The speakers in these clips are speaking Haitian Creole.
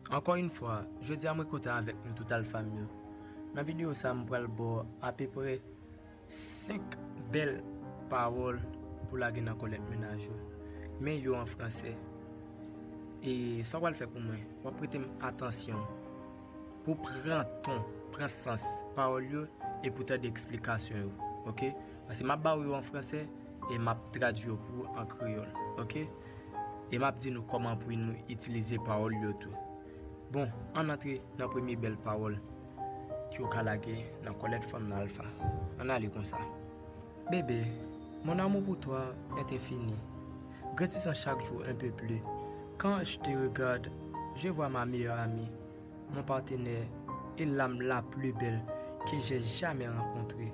Ankò yn fwa, jodi a mwen kontan avèk nou tout alfa m yo. Nan videyo sa a m pral ba w apeprè 5 bèl pawòl pou lage nan kòlèt mennaj ou. Men yo an fransè. E sa w pral fè pou mwen, w ap prete m atansyon pou w pran ton, pran sans pawòl yo epi w tande eksplikasyon yo. Ok? Paske m ap ba w yo an fransè. E m ap tradui yo pou ou an kreyòl. Ok? E m ap di nou kòman pou nou itilize pawòl yo tou. Bon, ann antre nan premye bèl pawòl ki yo ka lage nan kòlèt fanm nan Alpha. Ann ale konsa. Bébé, mon amour pour toi est infini, grandissant chaque jour un peu plus, quand je te regarde, je vois ma meilleure amie, mon partenaire et l'âme la plus belle que j'ai jamais rencontrée.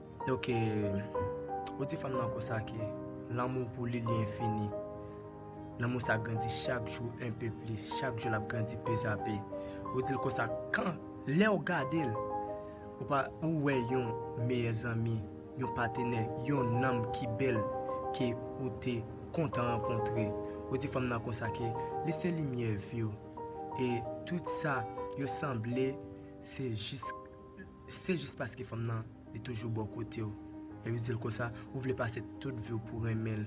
Ok ou di fanm nan konsa ke lanmouw pou li li enfini, lanmou sa grandi chak jou enpe plis, chak jou lap grandi pezape, ou dil konsa kan lèw gadel ou pa ou wè yon meyè zanmi, yon patenè, yon nanm ki bèl ke ou te kontan rankontre, ou di fanm nan konsa ke li se limyè viw e tout sa yo sanble se jis. Se jis paske fanm nan li toujou bò kote w, lè yo di l konsa, ou vle pase tout vi w pou renmen l,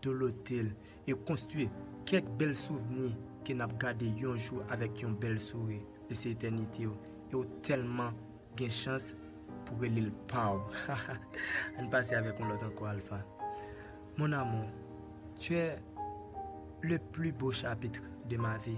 dolote l, e konstwi kèk bèl souvni ke n ap gade yon jou avèk yon bèl souri, li se etènite w, e w tèlman gen chans pou rele l pa w. Hahaha! Ann pase avèk yon lòt ankò Alpha. Mon amour, tu es le plus beau chapitre de ma vie.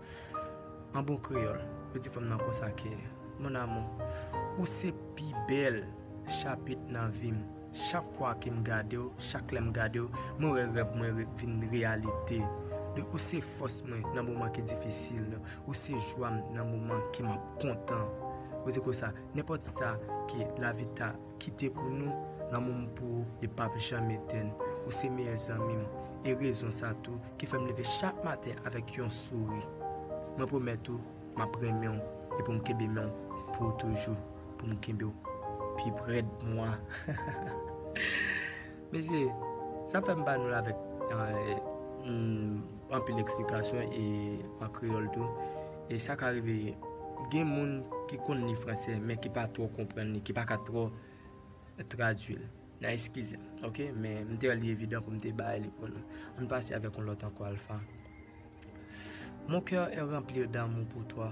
An bon kreyòl, yo di fanm nan konsa ke, Mon amour, ou se pi bèl chapit nan vi m. Chak fwa ke m gade w, chak lè m gade w, mwen wè rèv mwen vin reyalite. Ou se fòs mwen nan moman ki difisil, ou se jwa m nan moman ke m ap kontan. Yo di konsa, nenpòt sa ke lavi ta. kite pou nou, lanmou m pou ou li pap janm etenn, ou se meyè zanmi m, e rezon sa tou ki fè m leve chak maten avèk yon souri. Mwen pwomèt ou m ap renmen w e pou m kenbe men w pou toujou, pou m kenbe w pi prè d mwa. Mesye, sa fèm ba nou l avèk anpil eksplikasyon e an kreyòl tou. E sa ka rive gen moun ki konn li franse men ki pa twò konprann li, ki pa ka twò tradui l. N a eskize m, oke. Men m te wè li evidan pou m te bay li pou nou. Ann pase avèk yon lòt ankò Alpha. Mon cœur est remplir d'amour pour toi.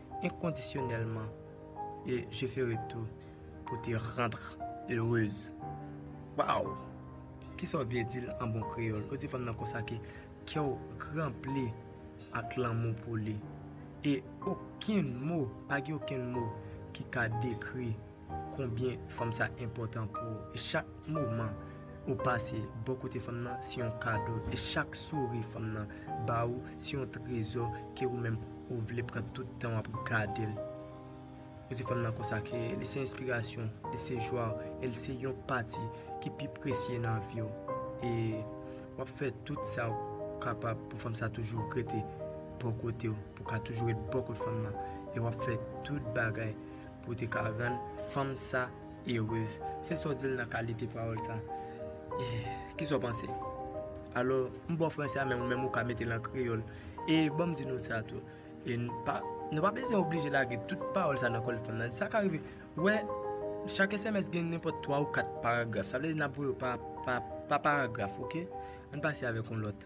inconditionellement et je ferai tout pour te rendre heureuse Waw Kisa w vle di l an bon kreyòl? Ou di fanm nan konsa ke kè w ranpli ak lanmou pou li E okenn mo, pa gen okenn mo ki ka dekri konbyen fanm sa enpòtan pou ou e chak moman ou pase bò kote fanm nan se yon kado e chak souri fanm nan ba ou se yon trezò ke ou menm ou vle pran tout tan wap gadel ou di fanm nan konsa ke li se enspirasyon ou li se jwa ou e li se yon pati ki pi presye nan vi ou e wap fè tout sa ou kapab pou fanm sa toujou rete bò kote ou pou ka toujou ret bò kot fanm nan e wap fè tout bagay Pou w te ka rann fanm sa erez. Se sa w di l nan kalite pawòl sa? Ki sa w panse? Alò, m ba w franse a men ou menm ou ka mete l an kreyòl. E ban m di nou sa tou, nou pa bezwen oblije lage tout pawòl sa nan kòl fanm nan. Sa ka rive, ou wè, chak sms gen nenpòt twa ou kat paragraf. Sa vle di n ap voye yo pa paragraf, oke? An n pase avèk yon lòt.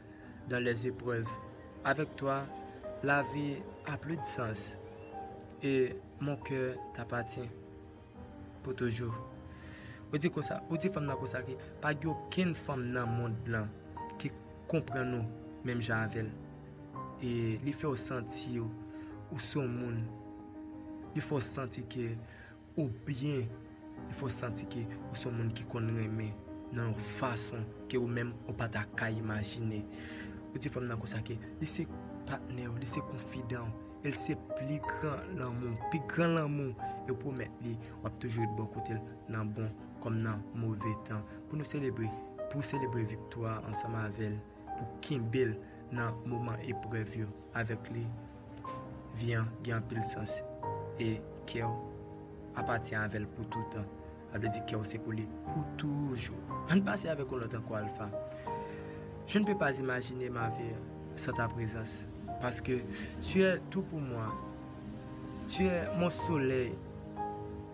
dans les épreuves Avec toi la vie a plus de sens Et mon cœur t'appartient Pour toujours Ou di konsa, ou di fanm nan konsa ke pa gen okenn fanm nan mond lan ki konprann ou menm jan avè l. E li fè w santi ou se yon moun. Li fè w santi ke Ou byen e fè w santi ke ou se yon moun ki konn renmen nan yon fason ke ou menm ou pa ta ka imajine. Ou di fanm nan konsa ke li se patnè w, li se konfidan w, e li se pli gran lanmou w, pi gran lanmou w. E ou pwomèt li w ap toujou ret bò kote l nan bon kòm nan move tan. Pou nou selebre, pou w selebre viktwa ansanm avè l, pou w kenbe l nan moman eprèv yo. avèk li, vi an gen anpil sans e kè w apatyen avè l pou toutan. Sa vle di kè w se pou li pou toujou. An n pase avèk yon lòt ankò Alpha, Je ne peux pas imaginer ma vie sans ta présence parce que tu es tout pour moi, tu es mon soleil.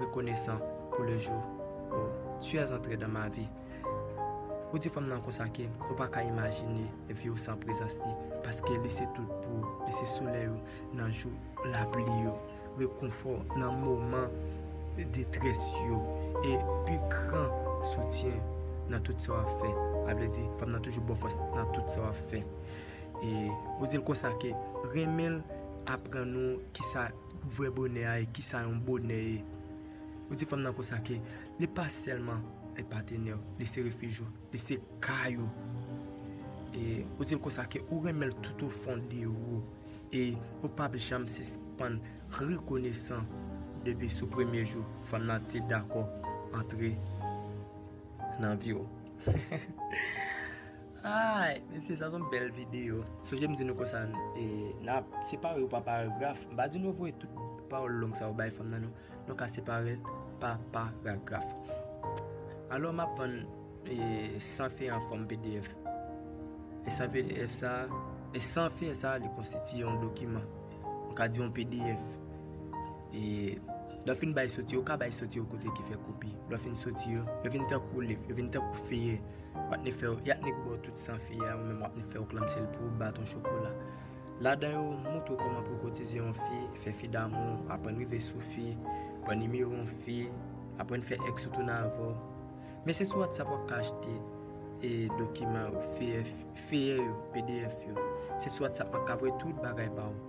Rekonesan pou le jou ou tu es antre dans ma vie Ou di fanm nan konsa ke ou pa ka imajine vi ou san prezans li paske li se tout pou ou li se solèy ou nan jou lapli yo rekonfò nan moman detrès yo e pi gran soutyen nan tout sa w ap fè a vle di fanm nan toujou ba w fòs nan tout sa w ap fè e ou di l konsa ke renmen l aprann ou kisa Vrè bonè a e kisa yon bonè ye. Ou di fanm nan konsa ke li pa sèlman e patenèw, li se refij ou, li se kay ou. E ou dil konsa ke ou renmenl tout o fon de ou. E ou pap janm sispann rekonesan depi sou premye jou fanm nan te dakò antre nan viw. Aay mesye sa son bèl video. Sonje m di nou konsa nap separe yo pa paragraf. M pa di nou voye tout pawòl long sa yo bay fanm nan non. Nou ka separe l pa paragraf. Alò map vann san fen an fòm pdf. E san pdf sa, e san fen sa li konstitiye yon dokiman. Nou ka di yon pdf. E lè w fin bay soti yo, ou ka bay soti yo kote ki fè koupi. Lè w fin soti yo, yo vin tankou lif, yo vin tankou feye. W ap ni fè yo, y ap ni bo tout san feye a, ou menm w ap ni fè yo klanbse l pou baton chokola. Ladan yo, m montre w kòman pou w kotize yon fi, fè fi damou, aprann rive sou fi, pran nimewo yon fi, aprann fè èks ou tounen avè w. Men se sou Whatsapp w ap ka achte e dokiman yo, feyè, feyè yo, pdf yo. Se sou Whatsapp m ap ka voye tout bagay ba w.